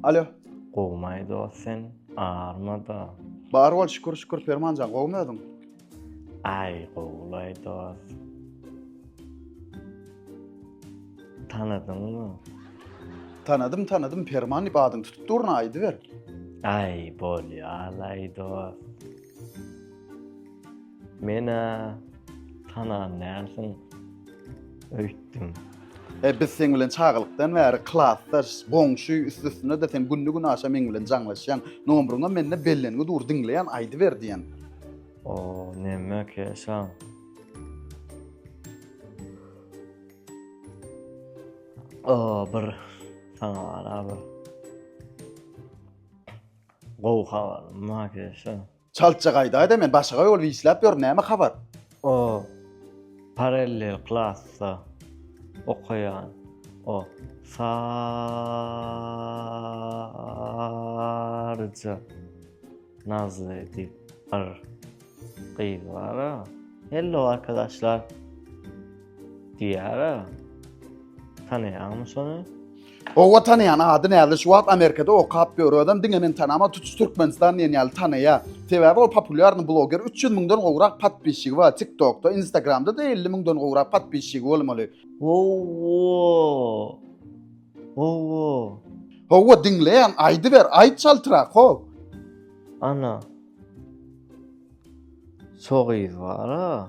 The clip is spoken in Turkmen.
Alo. Gowmaý dost sen, armada. Bar bol şükür şükür Permanjan, gowmy özüň? Aý, gowlaý dost. Tanadyňmy? Tanadym, tanadym Perman diýip adyň tutup durna aýdyber. Aý, bolýar, aý dost. Men-ä tanan dälsiň öýtdüm. E, biz seň bilen çagalykdan bäri klasdaş, goňşy, üst-üstüne-de sen günde-günaşa meň bilen jaňlaşýaň. Nomryňam mende bellengi dur, diňleýän, aýdyber diýen. O, näme keşaň? O, bir saňa ara bir gowy habarym bar keşaň. Çaltja gaýdaýda men başaga ýol wislap ýörün näme habar. O parallel klasda okaýan o saryja nazly diýip bir gyz bar-a. Hello arkadaşlar. Diýär-a. Tanaýaňmy şony? Owa tanaýan ady näzli şu wagt Amerikada okap ýör özem diňe men tanama tutuş Türkmenistan diýen ýaly tanaýa. Sebäbi ol populýarny bloger üç ýüz müňden gowrak podpisçigi bar tiktokda instagramdada elli müňden gowrak podpisçigi bolmaly. Owo owo. Howwa diňleýän aýdyber aýt çaltrak ho. Ana. Şo gyz bara.